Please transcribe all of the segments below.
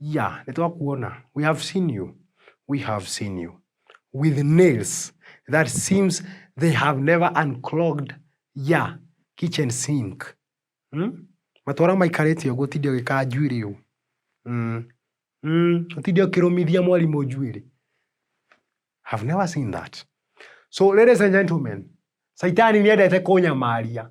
Yeah, nĩ twakuona. We have seen you. We have seen you. With nails that seems they have never unclogged ya kitchen sink. Hmm? Matwara maikarĩtie ũguo ũtinde ũgĩkaa njuĩrĩ ũũ. Mm. Mm. Ũtinde ũkĩrũmithia mwarimũ njuĩrĩ. Have never seen that. So ladies and gentlemen, Saitani nĩendete kũnyamaria.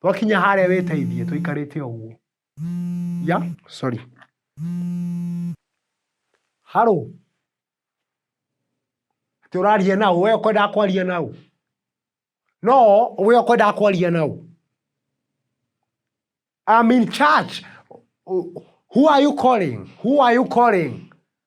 twakinya harĩa wĩteithie tũikarĩte ũguo ya sorry haro ati ũraria na ũ we ũkwendaga kwaria na ũ no we ũkwendaga kwaria na ũ I'm in charge who are you calling who are you calling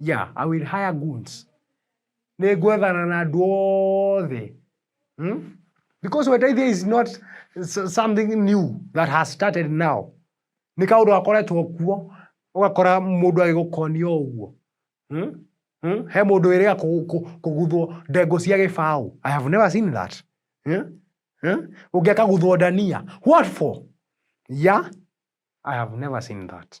Yeah, I will hire goons. Nĩ ngwethana na andũ othe. Hmm? Because Wetaithia is not s- something new that has started now. Nĩ kaũndũ gakoretwo kuo, ũgakora mũndũ agĩgũkonia o ũguo. Hmm? Hmm? He mũndũ wĩrĩga kũ- kũ- kũguthwo ndengũ cia gĩbaũ. I have never seen that. Hmm? Hmm? Ũngĩ akaguthwo ndania. What for? Yeah? I have never seen that.